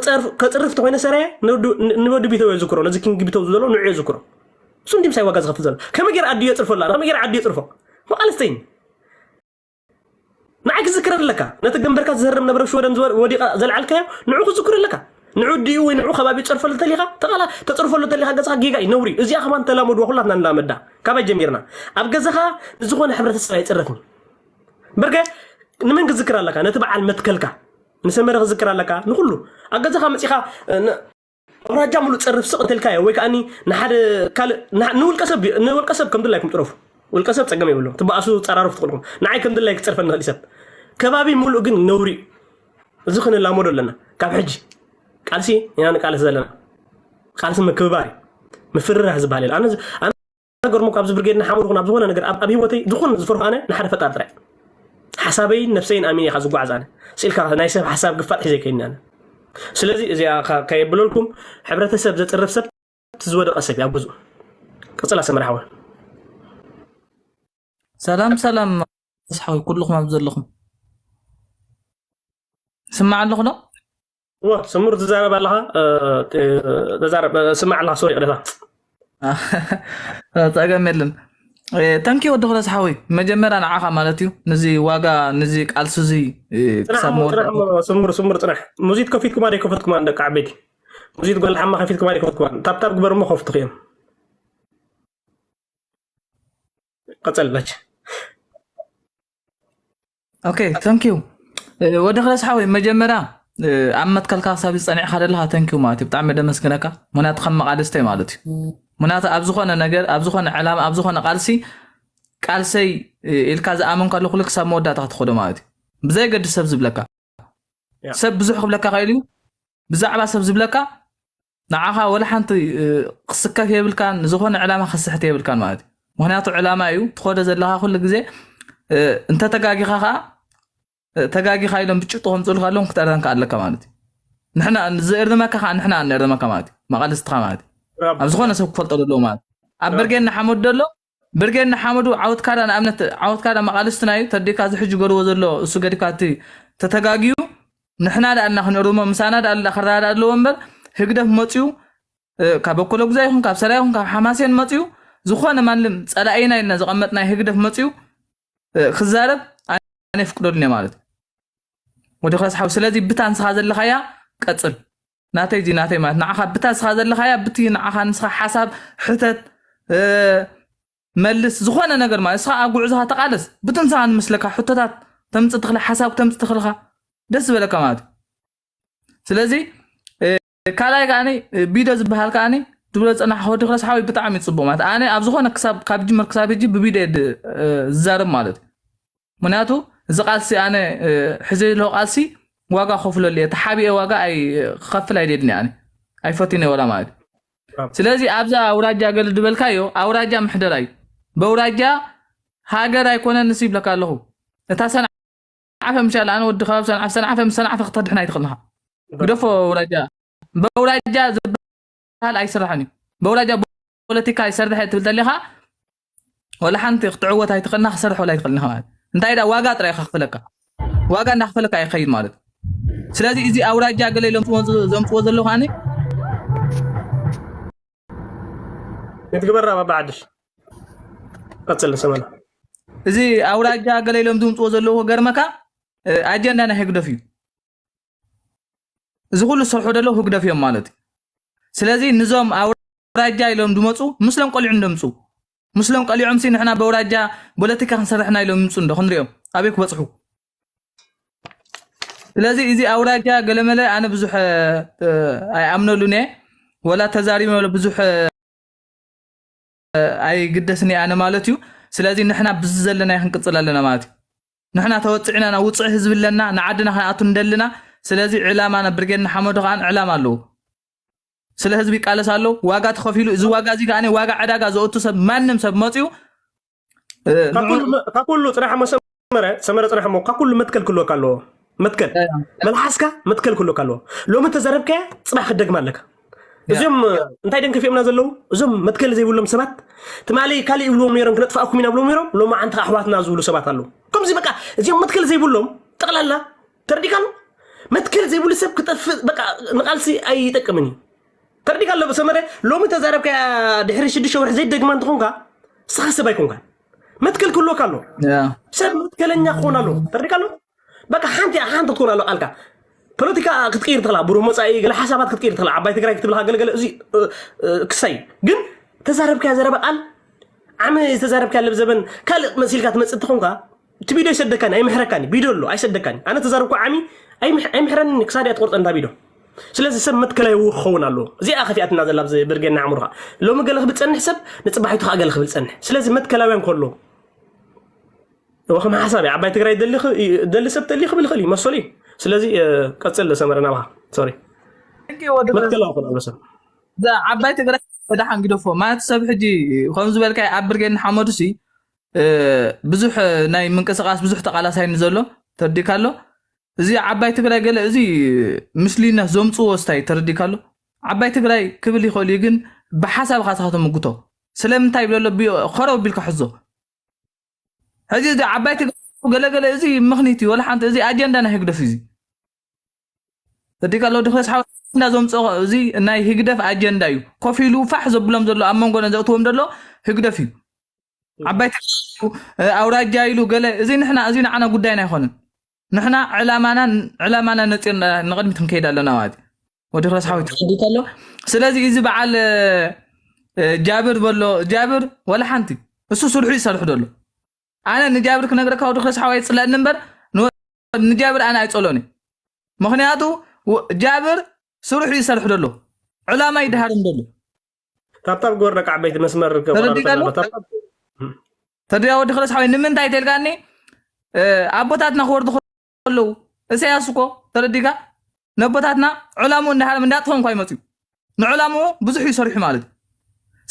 ጸርፍ- ከፅርፍ ተኮይነ ሰራየ ንወዲ- ንወዲ ቢተው እየ ዝክሮ ነዚ ኪንግ ቢተው ዘሎ ንዑ እየ ዝክሮ ስንቲም ሳይ ዋጋ ዝኸፍል ዘሎ ከመይ ገይረ ኣዲዮ የፅርፎ ኣላ ከመይ ገይረ ዓዲ የፅርፎ መቃልስተይን ንዓይ ክዝክረ ኣለካ ነቲ ገንበርካ ዝህርም ነበረ ሽወደን ዝወ- ወዲቓ ዘልዓልካዮ ንዑ ክዝክሩ ኣለካ ንዑ ድኡ ወይ ንዑ ከባቢ ፀርፈሉ ተሊካ ተቃላ ተፅርፈሉ ተሊካ ገፅካ ጌጋ እዩ ነውሪ እዩ። እዚኣ ከማን ተላመድዋ ኩላትና ንላመዳ ካባይ ጀሚርና ኣብ ገዛኻ ንዝኾነ ሕብረተሰብ ኣይፅረፍን በርገ ንመን ክዝክር ኣለካ ነቲ በዓል መትከልካ ንሰመረ ክዝክር ኣለካ ንኩሉ ኣብ ገዛኻ መፂኻ ን- ኣውራጃ ሙሉእ ፀርፍ ስቕ እንተልካዮ ወይ ከዓኒ ንሓደ ካልእ ንሓ- ንውልቀ ሰብ ንውልቀ ሰብ ከም ድላይኩም ጥረፉ ውልቀ ሰብ ፀገም የብሎ ትበኣሱ ፀራርፍ ትኽእልኩም ንዓይ ከም ድላይ ክፀርፈኒ ይኽእል እዩ ሰብ ከባቢ ሙሉእ ግን ነውሪ እዩ እዚ ክንላመዶ ኣለና ካብ ሕጂ ቃልሲ ኢና ንቃለስ ዘለና ቃልሲ ምክብባር እዩ ምፍርራህ ዝበሃል የለ ኣነ ገርሞ ካብዚ ብርጌድ ንሓመዱ ይኹን ኣብ ዝኾነ ነገር ኣብ ኣብ ህይወተይ ዝኾነ ዝፈርሖ ኣነ ንሓደ ፈጣሪ ጥራይ ሓሳበይን ነፍሰይን ኣሚን ኢኻ ዝጓዓዝ ኣነ ስኢልካ ናይ ሰብ ሓሳብ ግፋጥ ሒዘ ከይኒ ኣነ ስለዚ እዚኣ ከ- ከየብለልኩም ሕብረተሰብ ዘፅርፍ ሰብ እቲ ዝወደቐ ሰብ እዩ ኣብ ገዝኡ ቅፅላ ሰመራ ሓወን ሰላም ሰላም ኣስሓዊ ኩልኹም ኣብ ዘለኹም ስማዕ ኣለኹ ዶ እወ ስሙር ትዛረብ ኣለኻ ተዛረብ ስማዕ ኣለኻ ሶሪ ቅደታ ፀገም የለን ተንኪ ወዲ ክለስ ሓወይ መጀመርያ ንዓኻ ማለት እዩ ንዚ ዋጋ ንዚ ቃልሲ እዚ ፅናሕ ክሳብ እሞ መወዳእ ፅናሕ እሞ ስሙር ስሙር ፅናሕ ሙዚት ከፊትኩማ ዶ ከፈትኩማ ደቂ ዓበይቲ ሙዚት ጓል ሓማ ከፊትኩማ ዶ ከፈትኩማ ታብታብ ግበር እሞ ከፍትኹ እዮም ቀፀል በች ኦኬ ተንኪዩ ወዲ ክለስ ሓወይ መጀመርያ እ፣ ኣብ መትከልካ ክሳብ ዝፀኒዕካ ዘለካ ተንኪዩ ማለት እዩ ብጣዕሚ ደመስግነካ ምክንያቱ ከም መቃልስተይ ማለት እዩ ምክንያቱ ኣብ ዝኮነ ነገር ኣብ ዝኮነ ዕላማ ኣብ ዝኮነ ቃልሲ ቃልሰይ እ፣ ኢልካ ዝኣመን ከሎ ኩሉ ክሳብ መወዳእታ ክትኸዶ ማለት እዩ ብዘይገዲ ሰብ ዝብለካ ያ ሰብ ብዙሕ ክብለካ ክእል እዩ ብዛዕባ ሰብ ዝብለካ ንዓኻ ወላ ሓንቲ ክስከፍ የብልካን ንዝኾነ ዕላማ ክስሕት የብልካን ማለት እዩ ምክንያቱ ዕላማ እዩ ትኸዶ ዘለካ ኩሉ ግዜ እንተተጋጊኻ ከዓ ተጋጊኻ ኢሎም ብጭጡ ከምፅሉ ከለዎም ክትእርመካ ኣለካ ማለት እዩ ንሕና ዝእርመካ ከዓ ንሕና እንእርመካ ማለት እዩ መቃልስትካ ማለት እዩ ኣብ ዝኾነ ሰብ ክፈልጦ ዘለዎ ማለት እዩ ኣብ ብርጌና ሓመድ ደሎ ብርጌድ ንሓመዱ ዓወትካ ዳ ንኣብነት ዓወትካ ዳ መቃልስትና እዩ ተዲካ እዚ ሕጂ ገርዎ ዘሎ እሱ ገድካ እቲ ተተጋግዩ ንሕና ዳ ኣልና ክንእርሞ ምሳና ዳ ኣላ ክረዳዳ ኣለዎ እምበር ህግደፍ መጽዩ ካብ በኮሎግዛ ይኹን ካብ ሰላ ይኹን ካብ ሓማሴን መጽዩ ዝኾነ ማንም ጸላኢና ኢልና ዘቐመጥናይ ህግደፍ መጽዩ ክዛረብ ኣነ ፍቅደሉን ማለት ወዲ ክረስሓው ስለዚ ብታንስኻ ዘለኻያ ቀጽል ናተይ እዚ ናተይ ማለት ንዓኻ ብታ እስኻ ዘለኻያ ብቲ ንዓኻ ንስኻ ሓሳብ ሕተት እ፣ መልስ ዝኾነ ነገር ማለት እስኻ ኣብ ጉዕዞኻ ተቃለስ ብቲ ንስኻ ንምስለካ ሕቶታት ተምፅእ ትኽእል ሓሳብ ተምፅእ ትኽእል ኢኻ ደስ ዝበለካ ማለት እዩ ስለዚ እ፣ ካልኣይ ከዓኒ እ፣ ቢዶ ዝበሃል ከዓኒ ትብሎ ፀናሕ ሆዲ ክረስ ሓወይ ብጣዕሚ እዩ ፅቡቅ ማለት ኣነ ኣብ ዝኾነ ክሳብ ካብ ጅምር ክሳብ ሕጂ ብቢዶ እየ ድ- እ፣ ዝዛረብ ማለት እዩ ምክንያቱ እዚ ቃልሲ ኣነ ሕዘ ዝለ ቃልሲ ዋጋ ከፍለሉ እየ ተሓቢኤ ዋጋ ክከፍል ኣይደድኒ ኣነ ኣይፈትነ ወላ ማለት ስለዚ ኣብዛ ኣውራጃ ገል ዝበልካዮ ኣውራጃ ምሕደራ እዩ በውራጃ ሃገር ኣይኮነ ንስ ይብለካ ኣለኹ እታ ሰንዓፈ ምሻለ ኣነ ወዲ ከባቢ ሰንዓፈ ሰንዓፈ ምስ ሰንዓፈ ክተድሕና ኣይትኽእልኻ ግደፎ ኣውራጃ በውራጃ ዝበሃል ኣይስራሕን እዩ በውራጃ ፖለቲካ ይሰርሕ እየ ትብል ተለኻ ወላ ሓንቲ ክትዕወት ኣይትኽእልና ክሰርሕ ወላ ኣይትኽእልን ኢኻ ማለት እንታይ ዳ ዋጋ ጥራይ ኢኻ ክፍለካ ዋጋ እንዳክፈለካ ይኸይድ ማለት እዩ ስለዚ እዚ ኣውራጃ ገለ ኢሎም ዘምፅዎ ዘለዉ ከዓኒ ክትግበራ ባባ ዓድሽ ቀፅል ሰመና እዚ ኣውራጃ ገለ ኢሎም ዝምፅዎ ዘለዉ ገርመካ ኣጀንዳ ናይ ህግደፍ እዩ እዚ ኩሉ ዝሰርሑ ደለው ህግደፍ እዮም ማለት እዩ ስለዚ ንዞም ኣውራጃ ኢሎም ድመፁ ምስሎም ቆሊዑም ደምፁ ምስሎም ቀሊዖም ሲ ንሕና በውራጃ ፖለቲካ ክንሰርሕና ኢሎም ይምፁ እንዶ ክንሪኦም ኣበይ ክበፅሑ ስለዚ እዚ ኣውራጃ ገለመለ ኣነ ብዙሕ ኣይኣምነሉን እየ ወላ ተዛሪበ ብዙሕ ኣይግደስን ኣነ ማለት እዩ ስለዚ ንሕና ብዚ ዘለና ክንቅፅል ኣለና ማለት እዩ ንሕና ተወፅዕና ናብ ውፅዕ ህዝቢ ኣለና ንዓድና ክንኣቱ እንደልና ስለዚ ዕላማና ብርጌድ ንሓመዱ ከዓ ዕላማ ኣለዎ ስለ ህዝቢ ይቃለስ ኣሎ ዋጋ ተኸፊሉ እዚ ዋጋ እዚ ከዓ ዋጋ ዕዳጋ ዘወቱ ሰብ ማንም ሰብ መፅኡ ካብ ኩሉ ፅናሕ መሰ ሰመረ ሰመረ ፅናሕ እሞ ካብ ኩሉ መትከል ክህልወካ ኣለዎ መትከል መልሓስካ መትከል ክህልወካ ኣለዎ ሎሚ ተዘረብካያ ፅባሕ ክደግማ ኣለካ እዚኦም እንታይ ደን ከፊኦምና ዘለዉ እዞም መትከል ዘይብሎም ሰባት ትማሊ ካልእ ይብልዎም ነይሮም ክነጥፍኣኩም ኢና ብሎም ነይሮም ሎሚ ዓንቲ ኣሕዋትና ዝብሉ ሰባት ኣለዉ ከምዚ በቃ እዚኦም መትከል ዘይብሎም ጠቕላላ ተረዲካ ኣሎ መትከል ዘይብሉ ሰብ ክጠፍእ በቃ ንቃልሲ ኣይጠቅምን እዩ ተረዲካ ኣሎ ሰመረ ሎሚ ተዛረብካ ድሕሪ ሽዱሽተ ወርሒ ዘይደግማ እንትኾንካ ስኻ ሰብ ኣይኮንካን መትከል ክህልወካ ኣለዎ ሰብ መትከለኛ ክኾን ኣለዎ ተረዲካ ኣለዎ በቃ ሓንቲ ሓንቲ ክትኮን ኣለዎ ቃልካ ፖለቲካ ክትቅይር ትኽእላ ብሩህ መፃኢ ገለ ሓሳባት ክትቅይር ትኽእላ ዓባይ ትግራይ ክትብልካ ገለገለ እዚ ክሳይ ግን ተዛረብካያ ዘረባ ቃል ዓመ ዝተዛረብካያ ለብዘበን ካልእ መሲልካ ትመፅእ ተኾንካ እቲ ቪድዮ ኣይሰደካኒ ኣይምሕረካኒ ቪድዮ ኣሎ ኣይሰደካኒ ኣነ ተዛረብኩ ዓሚ ኣይምሕ- ኣይምሕረኒ ክሳድ እያ ትቆርፀ እንዳ ቪድዮ ስለዚ ሰብ መትከላይ እው ክኸውን ኣለዎ እዚኣ ከፊኣትና ዘላ ኣብዚ ብርጌና ኣእምሮኻ ሎሚ ገለ ክብል ፀንሕ ሰብ ንፅባሒቱ ከዓ ገለ ክብል ፀንሕ ስለዚ መትከላውያን ከሎ ከም ሓሳብ እዩ ዓባይ ትግራይ ደሊ ክ- እዩ- ደሊ ሰብ ተሊ ክብል ይኽእል እዩ መሰሉ እዩ ስለዚ እ፣ ቀፅል ሰመረ ናብኻ ሶሪ ሕጊ ወዲ ገዛ መትከላዊ ክኸውን ኣሎ ሰብ እዛ ዓባይ ትግራይ ወደሓን ግደፎ ማለት ሰብ ሕጂ ከም ዝበልካ ኣብ ብርጌድ ንሓመዱ ሲ እ፣ ብዙሕ እ፣ ናይ ምንቅስቃስ ብዙሕ ተቃላሳይ ንዘሎ ተርዲካ ኣሎ እዚ ዓባይ ትግራይ ገለ እዚ ምስሊነት ዘምፅዎ ስታይ ተረዲካ ኣሎ ዓባይ ትግራይ ክብል ይኽእል እዩ ግን ብሓሳብ ኢኻ ስኻ ተምጉቶ ስለምንታይ ይብለ ኣሎ ኸረው ቢልካ ሕዞ ሕዚ እዚ ዓባይ ትግራይ ገለገለ እዚ ምኽኒት እዩ ወላ ሓንቲ እዚ ኣጀንዳ ናይ ህግደፍ እዩ ተረዲካ ኣሎ ድክለስ ሓወ እንዳ ዘምፅኦ እዚ ናይ ህግደፍ ኣጀንዳ እዩ ኮፍ ኢሉ ፋሕ ዘብሎም ዘሎ ኣብ መንጎ ዘእትዎም ዘሎ ህግደፍ እዩ ዓባይ ትግራይ ኣውራጃ ኢሉ ገለ እዚ ንሕና እዚ ንዓና ጉዳይና ኣይኮነን ንሕና ዕላማና ዕላማና ነፂር ንቕድሚት ክንከይድ ኣለና ማለት እዩ ወዲ ረስሓዊት ተኸዲት ኣሎ ስለዚ እዚ በዓል ጃብር በሎ ጃብር ወላ ሓንቲ እሱ ስርሑ ይሰርሑ ደሎ ኣነ ንጃብር ክነግረካ ወዲ ረስሓዊ ኣይፅለኒ እምበር ንጃብር ኣነ ኣይፀሎን እዩ ምክንያቱ ጃብር ስርሑ ይሰርሑ ደሎ ዕላማ ይድሃርም ደሎ ካብታብ ጎር ደቂ ዓበይቲ መስመር ተረዲእካ ወዲ ክለስ ሓወይ ንምንታይ ተልካኒ ኣቦታትና ክወርዱ ከለዉ እሰያስ እኮ ተረዲእካ ነቦታትና ዕላሙ እንዳሃለም እንዳጥፎም እኳ ይመፅዩ ንዕላሙ ብዙሕ እዩ ሰሪሑ ማለት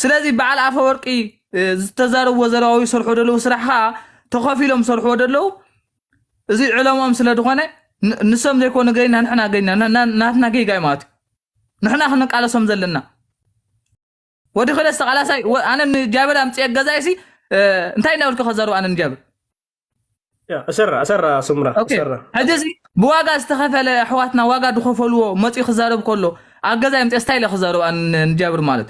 ስለዚ በዓል ኣፈወርቂ ዝተዛረብዎ ዘለዋ ወይ ሰርሑ ዘለዉ ስራሕ ከዓ ተኸፊሎም ሰርሕዎ ዘለዉ እዚ ዕለምኦም ስለ ዝኾነ ንሶም ዘይኮኑ ገይና ንሕና ገይና ናትና ጌጋ እዩ ማለት እዩ ንሕና ክንቃለሶም ዘለና ወዲ ክለ ዝተቃላሳይ ኣነ ንጃብር ኣምፅኤ ገዛይ ሲ እንታይ እናበልኩ ከዘሩ ኣነ ንጃብር እሰራ እሰራ ስምራ ሕጂ እዚ ብዋጋ ዝተኸፈለ ኣሕዋትና ዋጋ ዝኸፈልዎ መፂኡ ክዛረብ ከሎ ኣብ ገዛይ ምፅኤ ስታይ ኢለ ክዛረብ ንጃብር ማለት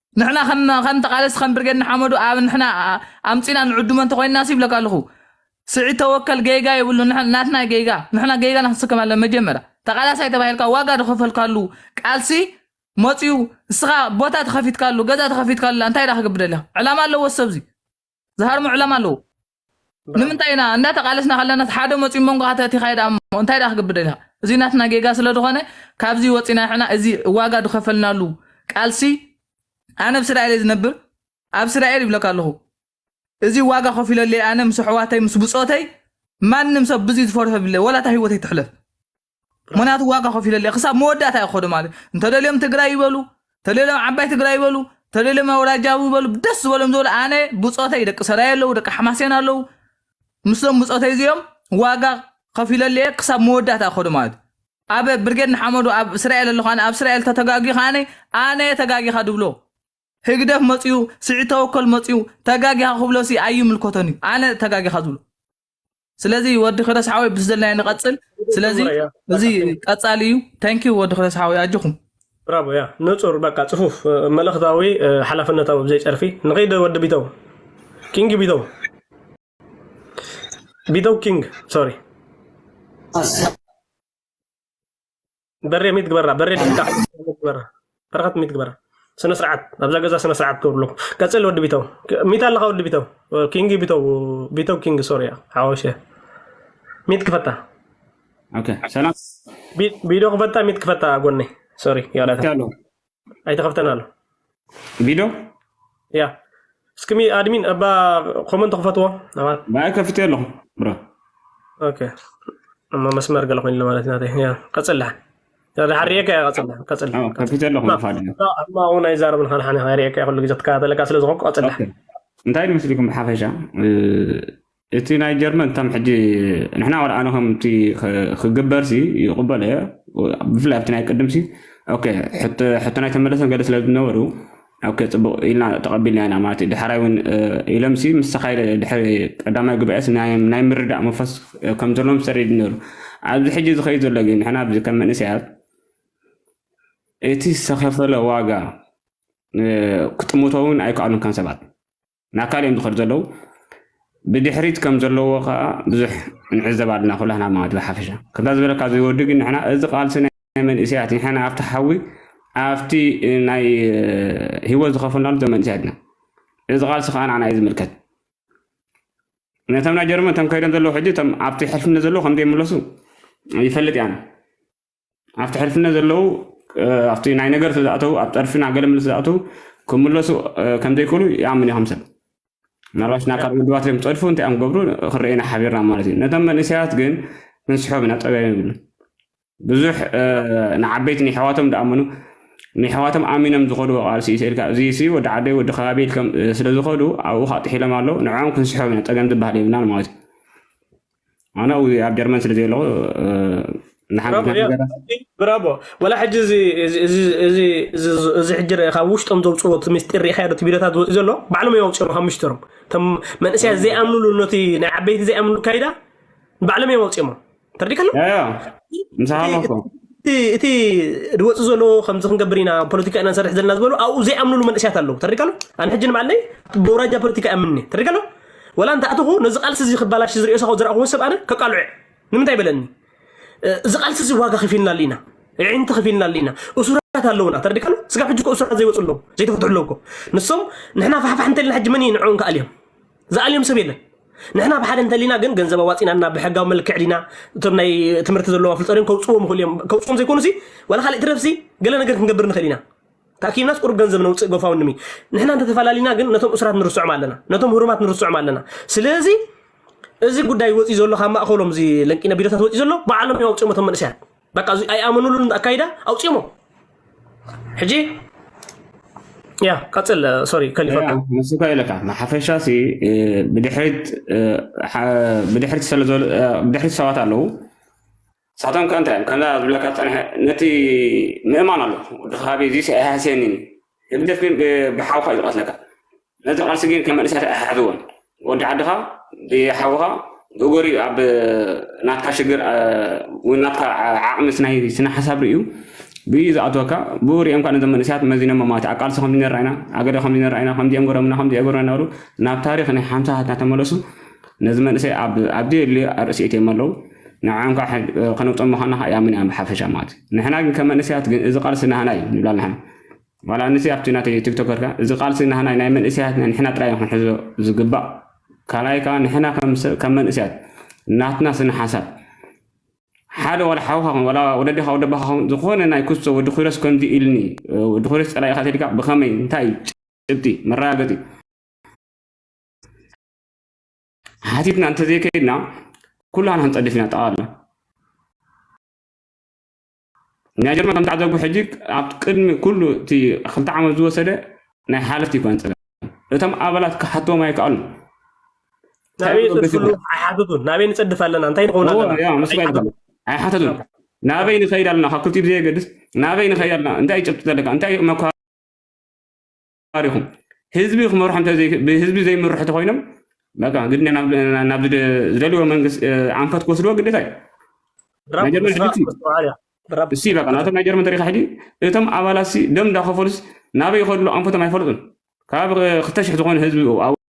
ንሕና ከም ከም ተቃለስቲ ከም ብርጌድ ንሓመዱ ኣብ ንሕና ኣምጺና ንዕድሞ እንተኮይንና ሲ ይብለካ ኣለኹ ስዒድ ተወከል ጌጋ የብሉ ናትና ጌጋ ንሕና ጌጋና ክንስከም ኣለና መጀመርያ ተቃላሳይ ተባሂልካ ዋጋ ዝኸፈልካሉ ቃልሲ መጽዩ እስኻ ቦታ ተኸፊትካሉ ገዛ ተኸፊትካሉ እንታይ ዳ ክገብር ደሊኻ ዕላማ ኣለዎ ሰብዚ ዝሃርሙ ዕላማ ኣለዉ ንምንታይ ኢና እንዳተቃለስና ከለና ሓደ መፅኡ መንጎ ኣተቲኻዮ ዳሞ እንታይ ዳ ክግብደ ኢልካ እዚ ናትና ጌጋ ስለ ዝኾነ ካብዚ ወፂና ሕና እዚ ዋጋ ዝኸፈልናሉ ቃልሲ ኣነ ብ ስራኤል እየ ዝነብር ኣብ ስራኤል ይብለካ ኣለኹ እዚ ዋጋ ከፊለለይ ኣነ ምስ ኣሕዋተይ ምስ ብፆተይ ማንም ሰብ ብዙይ ዝፈርሖ ብለ ወላታ ሂወተይ ትሕለፍ ምክንያቱ ዋጋ ከፊለለ ክሳብ መወዳእታ እዩ ክኸዱ ማለት እዩ እንተደልዮም ትግራይ ይበሉ ተደልዮም ዓባይ ትግራይ ይበሉ ተደልዮም ኣውራጃዊ ይበሉ ደስ ዝበሎም ዝበሉ ኣነ ብፆተይ ደቂ ሰራይ ኣለዉ ደቂ ሓማሴን ኣለዉ ምስሎም ብፆተይ እዚኦም ዋጋ ከፊለለ እየ ክሳብ መወዳእታ ክኸዱ ማለት እዩ ኣብ ብርጌድ ንሓመዱ ኣብ እስራኤል ኣለኹ ኣነ ኣብ እስራኤል ተተጋጊ ከዓነ ኣነ ተጋጊኻ ድብሎ ህግደፍ መፅኡ ስዒድ ተወከል መፅኡ ተጋጊኻ ክብሎሲ ኣይምልከቶን እዩ ኣነ ተጋጊኻ ዝብሎ ስለዚ ወዲ ክረስ ሓወይ ብስ ዘለና ንቐፅል ስለዚ ንጹር እያ እዚ በቃ ቴንክ ቀፃሊ እዩ ታንኪ ወዲ ክረስ ሓወይ ኣጆኹም ብራቮ እያ ንጹር በቃ ጽፉፍ እ፣ መልእኽታዊ እ፣ ሓላፍነታዊ ብዘይ ጨርፊ ንኸይደ ወዲ ቢተው ኪንግ ቢተው ቢተው ኪንግ ሶሪ በሬ ሚት ግበራ በሬ ድሕንካ ግበራ በረኸት ሚት ግበራ ስነ ስርዓት ኣብዛ ገዛ ስነ ስርዓት ክብሩ ኣለኩም ቀፅል ወዲ ቢተው ሚት ኣለካ ወዲ ቢተው ኪንግ ቢተው ቢተው ኪንግ ሶርያ ሓወሸ ሚት ክፈታ ኦኬ ሰላም ቢ- ቢዶ ክፈታ ሚት ክፈታ ጎነይ ሶሪ ያላታ ኣሎ ኣይተኸፍተን ኣሎ ቪድዮ ያ እስክሚ ኣድሚን እባ ኮመንት ክፈትዎ ኣባት ባይ ከፍቴ ኣለኹ ብራ ኦኬ እሞ መስመር ገለ ኮይኑ ማለት ናተይ ያ ቀጽላ ሓሪኤካ እያ ቀጽላ ቀጽላ አዎ፣ ከፊቴ ኣለኹ ብሓደ እማ እውን ኣይዛረብን ሓንሓን ኢኻ ሪኤካ እየ ኩሉ ግዜ ትከታተለካ ስለ ዝኾንኩ ቀጽላ ኦኬ። እንታይ ንመስሊኩም ብሓፈሻ እ፣ እቲ ናይ ጀርመን ከም ሕጂ ንሕና ወላ ኣነ ከምቲ ክግበርሲ ይቕበሎ እየ ብፍላይ ኣብቲ ናይ ቅድምሲ ኦኬ ሕቶና ኣይተመለሰን ገለ ስለ ዝነበሩ ኦኬ ፅቡቕ ኢልና ተቐቢልና ኢና ማለት እዩ ድሓራይ እውን ኢሎምሲ ምስ ተኻይደ ድሕሪ ቀዳማይ ጉባኤስ ናይ ምርዳእ መንፈስ ከም ዘለዎም ሰሪድ ነሩ ኣብዚ ሕጂ ዝኸይድ ዘሎ ግን ንሕና ኣብዚ ከም መንእሰያት እቲ ዝተኸፈለ ዋጋ ክጥምቶ እውን ኣይከኣሉን ከም ሰባት ናካል እዮም ዝኸዱ ዘለዉ ብድሕሪት ከም ዘለዎ ከዓ ብዙሕ ንዕዘብ ኣለና ኩላህና ማለት ብሓፈሻ ከምታ ዝበለካ ዝወዲ ግን ንሕና እዚ ቃልሲ ናይ መንእሰያት ንሕና ኣብቲ ሓዊ ኣብቲ ናይ ህይወት ዝኸፈልናሉ ዘም መንእሰያት ኢና እዚ ቃልሲ ከዓ ንዓና እዩ ዝምልከት ነቶም ናይ ጀርመን እቶም ከይዶም ዘለዉ ሕጂ እቶም ኣብቲ ሕልፍነት ዘለዉ ከምዘይምለሱ ይፈልጥ እያን ኣብቲ ሕልፍነት ዘለዉ ኣብቲ ናይ ነገር ስለዝኣተዉ ኣብ ጠርፊ ናብ ገለ ምልስ ዝኣተዉ ክምለሱ ከምዘይክእሉ ይኣምን እዩ ከምሰብ ምናልባት ናብ ካልእ ውድባት እዮም ፀድፉ እንታይ እዮም ገብሩ ክረአ ኢና ሓቢርና ማለት እዩ ነቶም መንእሰያት ግን ክንስሖም ኢና ጠበያ ይብሉ ብዙሕ ንዓበይቲ ንሕዋቶም ደኣምኑ ንሕዋቶም ኣሚኖም ዝኸድዎ ቃልሲ እዩ ስኢልካ እዚ ሲ ወዲ ዓደይ ወዲ ከባቢ ኢልከም ስለዝኸዱ ኣብኡ ካጥሒሎም ኣለዉ ንዕኦም ክንስሖም ኢና ፀገም ዝበሃል የብልናን ማለት እዩ ኣነ ኣብኡ ኣብ ጀርመን ስለ ዘየለኹ እ፣ ንሓንቲ ብራቮ ያ ነገራት ብራቮ ወላ ሕጂ እዚ እዚ እዚ እዚ እዚ- እዚ ሕጂ ር- ካብ ውሽጦም ዘውፅዎ እቲ ምስጢር ርኢኻዮ እቲ ቪድዮታት ዝወፅእ ዘሎ ባዕሎም እዮም ኣውፅኦሞ ካብ ምስጢሮም እቶም መንእሰያት ዘይኣምንሉ ነቲ ናይ ዓበይቲ ዘይኣምንሉ ካይዳ ባዕሎም እዮም ኣውፅኦሞ ተረዲካ ኣሎ ያ ያ ምሳኻ እቲ ኣለኹ እኮ እቲ እቲ ዝወፅእ ዘሎ ከምዚ ክንገብር ኢና ፖለቲካ ኢና ንሰርሕ ዘለና ዝበሉ ኣብኡ ዘይኣምንሉ መንእሰያት ኣለዉ ተረዲካ ኣሎ ኣነ ሕጂ ንባዕለይ ብውራጃ ፖለቲካ እምኒ ተረዲካ ኣሎ ወላ እንተኣተኹ ነዚ ቃልሲ እዚ ክባላሽ ዝርእዮ ሳኹ ዝረኣኹዎ ሰብ ኣነ ከቃልዑ ንምንታይ በለኒ እዚ ቃልሲ እዚ ዋጋ ከፊልናሉ ኢና ዕንቲ ከፊልናሉ ኢና እሱራት ኣለውና ተረዲካ ኣሎ ስጋብ ሕጂ እኮ እሱራት ዘይወፁ ኣለዉ ዘይተፈትሑ ኣለዉ እኮ ንሶም ንሕና ፋሕፋሕ እንተልና ሕጂ መን እዩ ንዕኦም ክኣልዮም ዝኣልዮም ሰብ የለን ንሕና ብሓደ እንተሊና ግን ገንዘብ ኣዋፂና እና ብሕጋዊ መልክዕ ዲና እቶም ናይ ትምህርቲ ዘለዎም ኣፍልጦ ድም ከውፅዎም ይኽእሉ እዮም ከውፅዎም ዘይኮኑ ሲ ዋላ ካልእ ትረፍሲ ገለ ነገር ክንገብር ንኽእል ኢና ተኣኪብናስ ቁሩብ ገንዘብ ነውፅእ ጎፋውንድሚ ንሕና እንተተፈላለና ግን ነቶም እሱራት ንርስዖም ኣለና ነቶም ህሩማት ንርስዖም ኣለና ስለዚ እዚ ጉዳይ ወፂኡ ዘሎ ካብ ማእኸሎም እዚ ለንቂነ ቢሮታት ወፂኡ ዘሎ ባዕሎም እዮም ኣውፅኦም እቶም መንእሰያት በቃ እዚ ኣይኣመኑሉን ኣካይዳ ኣውፅኦሞ ሕጂ ያ ቀፅል ሶሪ ከሊፈካ ንስካ ኢለካ ንሓፈሻ ሲ እ፣ ብድሕሪት እ፣ ሓ- ብድሕሪት ስለ ዘሎ- እ፣ ብድሕሪት ሰባት ኣለዉ ንሳቶም ከ እንታይ እዮም ከምዛ ዝብለካ ዝፀንሐ ነቲ ምእማን ኣሎ ወዲ ከባቢ እዚስ ኣይሃስየኒ ህግደፍ ግን ብሓውካ እዩ ዝቐትለካ ነዚ ቃልሲ ግን ከም መንእሰያት ኣይሓዝዎን ወዲ ዓድኻ ብሓውኻ ብእጎሪ ኣብ ናትካ ሽግር ወይ ናትካ ዓቕሚ ናይ ስነ ሓሳብ ርእዩ ብዩ ዝኣትወካ ብኡ ሪኦም ካ ነዞም መንእሰያት መዚኖሞ ማለት ኣብ ቃልሲ ከምዚ ነራ ኢና ኣገደ ከምዚ ነራ ኢና ከምዚኦም ገሮምና ከምዚ ገሮና እናበሉ ናብ ታሪክ ናይ ሓምሳታት እናተመለሱ ነዚ መንእሰይ ኣብ ኣብዘየድልዮ ኣርእሲ እትዮም ኣለዉ ንዓም ከዓ ከነውፅኦም ምዃና ከዓ ይኣምን እያ ብሓፈሻ ማለት እዩ ንሕና ግን ከም መንእሰያት ግን እዚ ቃልሲ ናህና እዩ ንብላ ኣለና ዋላ ንስ ኣብቲ ናተይ ቲክቶከር ከዓ እዚ ቃልሲ ናህና ናይ መንእሰያት ንሕና ጥራይ ክንሕዞ ዝግባእ ካልኣይ ከዓ ንሕና ከም መንእሰያት ናትና ስነ ሓሳብ ሓደ ዋላ ሓውካ ኹን ዋላ ወለድኻ ወደ ኣባኻ ኹን ዝኾነ ናይ ክሶ ወዲ ኩረስ ከምዚ ኢልኒ ወዲ ኩረስ ፀላኢኻ ተድካ ብኸመይ እንታይ ጭብጢ መረጋገፂ ሓቲትና እንተዘይከይድና ኩላና ክንፀድፍ ኢና ጠቓላ ናይ ጀርመን ከም ተዓዘብኩ ሕጂ ኣብ ቅድሚ ኩሉ እቲ ክልተ ዓመት ዝወሰደ ናይ ሓለፍቲ ይኮነ ፀገም እቶም ኣባላት ክሓትዎም ኣይከኣሉ ናበይ ንፅድፍሉ ኣይሓተቱን ናበይ ንፅድፍ ኣለና እንታይ ንኸውን ኣለና ኣይሓተቱን ናበይ ንኸይድ ኣለና ካብ ክልቲኡ ብዘየገድስ ናበይ ንኸይድ ኣለና እንታይ ጭብጢ ዘለካ እንታይ መኳ ኢኹም ህዝቢ ክመርሑ ብህዝቢ ዘይምርሑ ተኮይኖም በቃ ግድ ናብ ናብ ዝደልዎ መንግስቲ ኣንፈት ክወስድዎ ግዴታ እዩ ናይ ጀርመን ሕጂ እቲ ብራብ እሲ በቃ ናቶም ናይ ጀርመን ተሪካ ሕጂ እቶም ኣባላት ሲ ደም እንዳኸፈሉስ ናበይ ይኸድሉ ኣንፈቶም ኣይፈልጡን ካብ ክልተ ሽሕ ዝኾኑ ህዝቢ ኣብኡ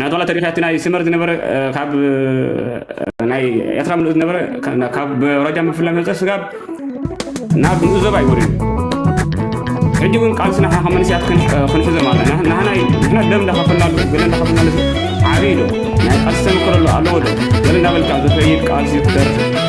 ናቱ ዋላ ተሪፋ እቲ ናይ ስመር ዝነበረ ካብ ናይ ኤርትራ ምልኡ ዝነበረ ካብ ሮጃ ምፍላ መፀ ስጋብ ናብ ምኡ ዞባ ይወርዩ ሕጂ እውን ቃልስና ሓ መንስያት ክንሕዞ ማለት ኢና ናህና ንሕና ደም እንዳኸፈልናሉ ገለ እንዳኸፈልናሉ ዓብይ ዶ ናይ ቃልሲ ተመክሮ ኣሎ ኣለዎ ዶ ገለ እንዳበልካ ዝኸይድ ቃልሲ ትደርፍ